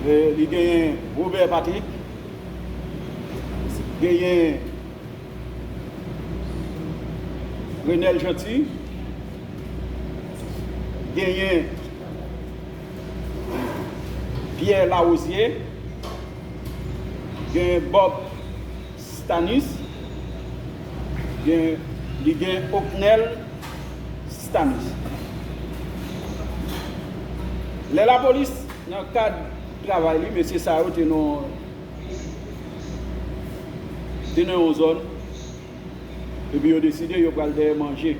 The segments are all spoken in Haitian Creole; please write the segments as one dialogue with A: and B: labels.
A: Li genyen Robert Patrick, genyen Renel Jeanty, genyen Pierre Larosière, genyen Bob. Stanus gen li gen Ocnel Stanus lè lapolis nan kad travay li mesye sa yo te nan te nan yon zòn epi yo deside yo pral dèyè manje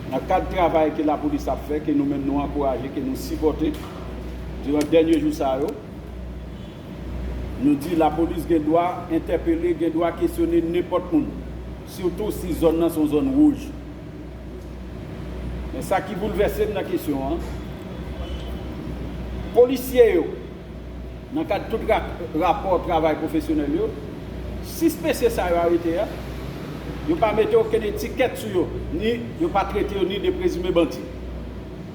A: nan kad travay ke lapolis ap fè ke nou menm nou ankouraje ke nou sipòte diran dènye jou sa yo. Nou di lapolis gen dwa entèpele, gen dwa kesyone nenpòt moun, sitou si zòn nan se yon zòn wouj. Men sa ki boulvèse m nan kesyon an, polisye yo, nan kad tout rapò travay pwofesyonèl yo, 6 mesye sa yo arete a, yo pa mete okenn etikèt sou yo, ni yo pa trete yo ni de prezime bandi.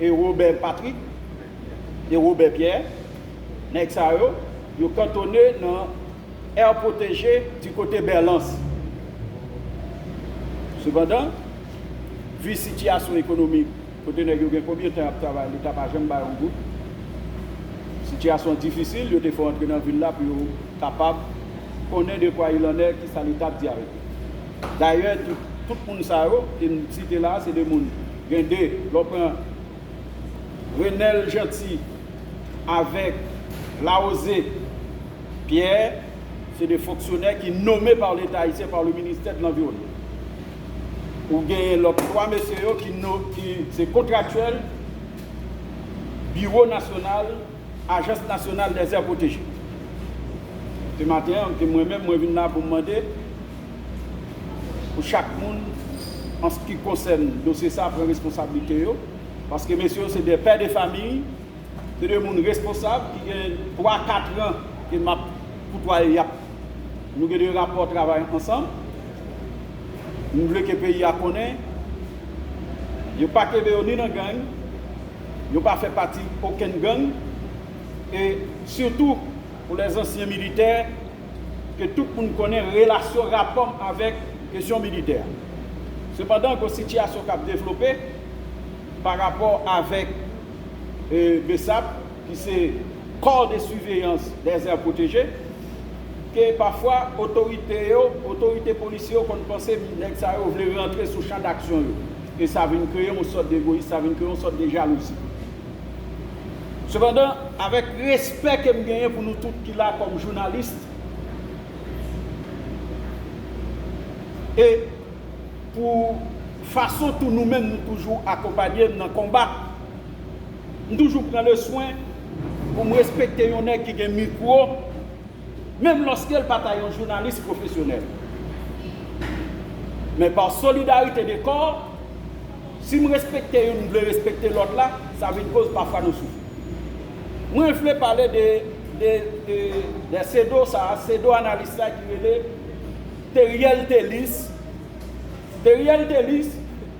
A: E Robert Patrick, e Robert Pierre, nèg sa yo, yo kantone nan aire protégée du kote Berlans. Sepandan, vu sitiyasyon ekonomik kote nèg yo gen konbyen tan y ap travay leta pa janm ba yo yon goud, sitiyasyon an difisil, yo te fè yo antre nan vil la pou yo kapab konnen de kwa il en est, kisa leta ap di avèk yo. Dayè, tout moun sa yo ke m site la a se de moun. Gen de, lè w pran Renel Jeanty avèk Larose Pierre, se de fonksyonè ki nome pa Leta Ayisyen, pa le Ministè de l'Environnement. Ou genyen lòt 3 mesye yo ki se kontraktyèl Biwo Nasyonal, Ajans Nasyonal dèzè Pwoteje. Se maten an, se mwen menm, mwen vin la pou m mande, pou chak moun an se ki konsèn dosye sa pran responsablite yo paske mesye yo se 2 pè de famiy se 2 moun responsab ki gen 3 katran ke map koutwaye yap nou gen 2 rapò travay ansanm m vle ke peyi a konnen yo pa kenbe yo ni nan gang yo pa fè pati okenn gang e sitou pou lè zansyen militè. ke tout moun konnen relasyon rapò m avèk kesyon militè a. Sepandan, gen yon sitiyasyon k ap devlope pa rapò avèk Bsap, ki se Corps de Surveillance des Aires Protégées, ke pafwa otorite yo, otorite polisye yo konn panse nèg sa yo vle rantre sou chan daksyon yo, e sa vin kreye yon sòt de egoyis, sa vin kreye yon sòt de jalouzi. Sepandan, avèk respè ke m genyen pou nou tout ki la kòm journaliste e pou fason tou nou menm nou toujou akonpanye m nan konba, m toujou pran le swen pou m respekte yon nèg ki gen mikwo. menm lòske l pa ta yon jounalis pwofesyonèl. Men pa solidarite de kò, si m respekte youn m vle respekte lòt la, sa vin koz pafwa nou soufri. Mwen vle pale de de sedo sa, sedo analis la ki rele Theriel Thélice. Theriel Thélice.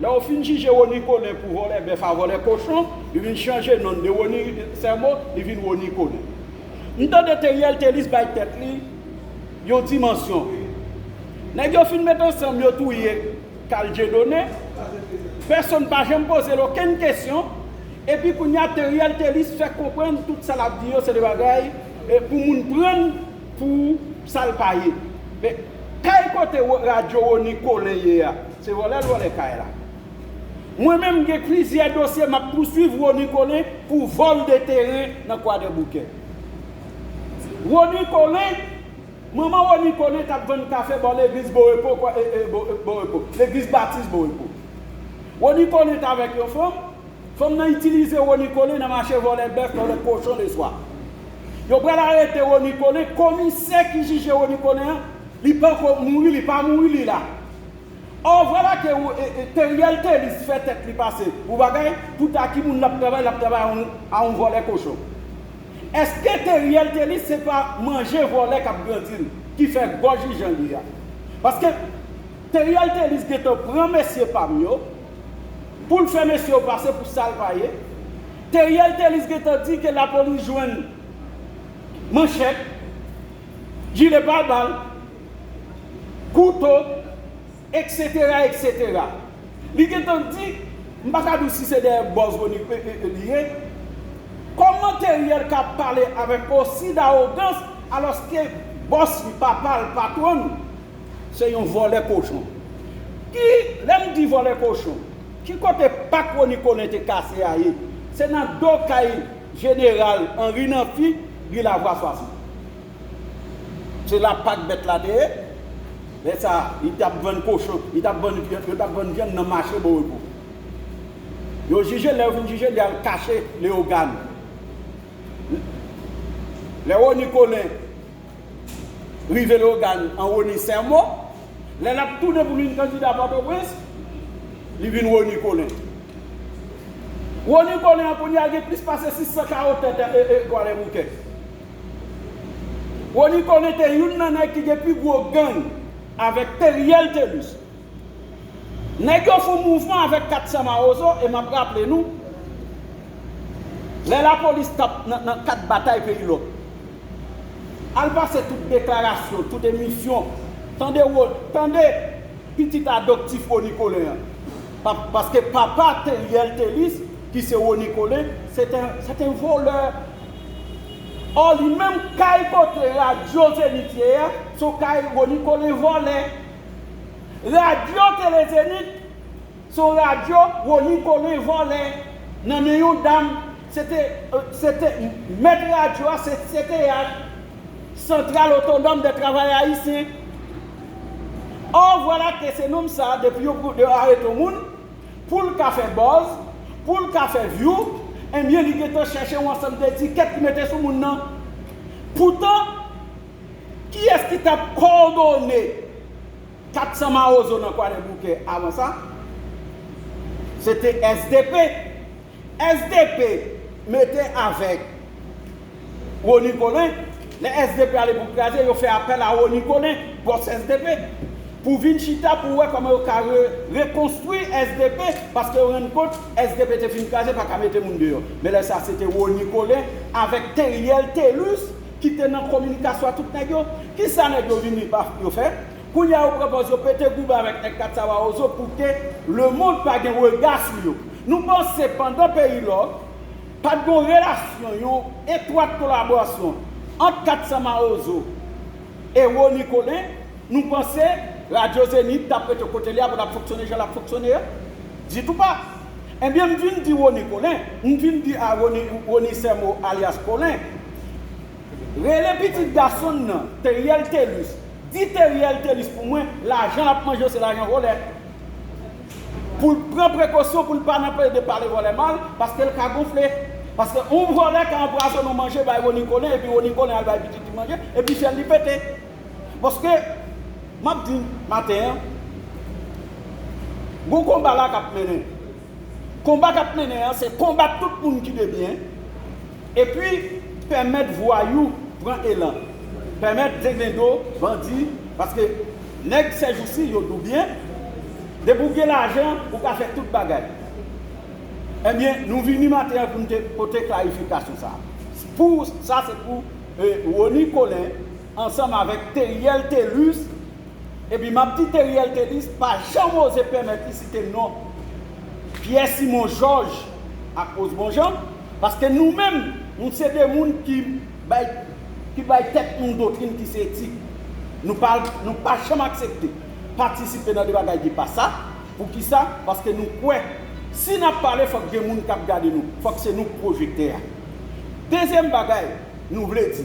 A: Lè yo fin jije Rony Colin pou vòlè bèf a vòlè kochon, li vin chanje non l de Rony Sermo, li vin Rony Colin. M tande Theriel Thelus bay tèt li yon dimansyon vre. Nèg yo fin met ansanm yo touye Carl Dieudonné, pèsonn pa janm poze l okenn kesyon, epi kounye a Theriel Thelus fè konprann tout sa l ap di yo se de bagay pou moun pran l pou Sa l pa ye. Men, kay kote radyo Rony Colin ye a, se vòlè l vòlè kay la. Mwen menm m gen plizyè dosye m ap pouswiv Rony Colin pou vòl de teren nan Kwadèboukè. Rony Colin, manman Rony Colin t ap vann kafe bò legliz Borepo, Borepo, legliz Batis Borepo. Rony Colin t avèk yon fanm, Fanm nan itilize Rony Colin nan mache vòlè bèf, vòlè kochon le swa. Yo pral arete Rony Colin, komisè ki jije Rony Colin an, li panko mouri, li pa mouri li la. Or vwala ke Theriel Thelus fè tèt li pase pou bagay, tout a ki moun lap travay, lap travay a yon a yon vòlè kochon. Eske Theriel Thelus se pa manje vòlè kap grandi l, ki fè gòj li jan li a. Paske Theriel Thelus gentan pran mesye pam yo, Poul fè mesye yo pase pou sal pa ye, Theriel Thelus gentan di ke lapolis jwenn manchèt, jile pa bal, kouto, etc etc. Li gentan di, m pa ka di w si se dèyè bòz Rony li ye, kòman Theriel ka pale avèk osi dawogans alòske bòs li, papa l, patwon l. Se yon vòlè kochon. Ki lè m di vòlè kochon, ki kote pak Rony Colin te kase a ye? Se nan do kay jeneral Henri Namphy, ri Lavwa 60. Se la pak bèt la te ye. Lè sa a, li t ap vann kochon, li t ap vann vyann, yo t ap vann vyann nan mache Borepo. Yo jije l, lè yo fin jije l, li al kache Leyogàn. Lè Rony Colin. Rive Leogane an Rony Sermo, lè l ap tounen pou vin kandida Pòtoprens, li vin Rony Colin. Rony Colin an kounye a gen plis pase 600 kawo tè tè e twalè bouke. Rony Colin te youn nan nèg ki gen pi gwo gang avèk Theriel Thelus Nèg yo fon mouvman avèk 400 mawozo e map raple nou lè lapolis tap nan kad batay peyi lòk al pase tout deklarasyon tout emisyon tande Rony tande pitit adoptif Rony Colin an paske papa Theriel Thelus ki se Rony Colin c'est un voleur or li menm kay kote radio Zenith ye a son kay Rony Colin vòlè. Radyo Tele Zenith se yon radyo Rony Colin vòlè nan men yon dam se te se te mèt radyo a se CTH Centrale Autonome des Travailleurs Haïtiens or voilà que se nonm sa depi yo yo arete yon moun pou l ka fè buzz pou l ka fè vyou enbyen li gentan chèche yon ansanm de etikèt pou mete sou moun nan poutan Kiyès ki tap kòdone 400 mawozo nan kwadèboukè avan sa? Se te sdp. Sdp mete avèk Rony Colin. Lè sdp ale pou kraze, yo fè apèl a Rony Colin, bòs sdp, pou vin chita pou wè kòman yo ka rekonstwi sdp, paske yo rann kont sdp te fin kraze, pa ka mete moun deyò. Men lè sa se te Rony Colin avèk Theriel Thelus ki te nan kominikasyon a tout nèg yo kisa nèg yo vini baf yo fè kounya yo pran pòz yo pete goumen avèk nèg katsawawozo pouke lemond pa gen rega sou yo nou panse pandan peyi lò pat gon relasyon yon etwat kolaborasyon ant katsamawozo e rony colin nou panse radyo zenith tap rete kote li a pou lap fonksyone jan lap fonksyone a ditou pa enbyen m vin di rony colin m vin di a rony rony sèmo alyas colin. Rele pitit gason n nan Theriel Thelus Di Theriel Thelus pou mwen lajan lap manje yo se lajan volè Poul pran prekosyon poul pa nan plede pale volè mal paskel ka gonfle Paske yon volè ka anpwazonnen yon manje bay Rony Colin epi Rony Colin al bay pitit li manje epi fyèl li pete Paske Map di maten an Gon konba la kap mennen Konba kap mennen an se konbat tout moun ki debyen Epi, pèmèt vwayou pran elan. Pèmèt dengendo, bandi, paske nèg sèjousi yo doubyen, depi ou gen lajan, ou ka fè tout bagay. Ebyen, nou vini maten an pou nou te pote klarifikasyon sa a. Pou sa se pou Rony Colin ansanm avèk Theriel Thelus, Epi map di Theriel Thelus pa janm oze pèmèt li site non Pierre Simon Georges ak Osbon Jean paske nou menm nou se de moun ki bay ki bay tèt nou yon doktrin ki se etik nou pa nou pa janm aksepte patisipe nan de bagay ki pa sa poukisa paske nou kwè si nap pale fòk gen moun kap gade nou fòk se nou k pwojektè a dezyèm bagay nou vle di.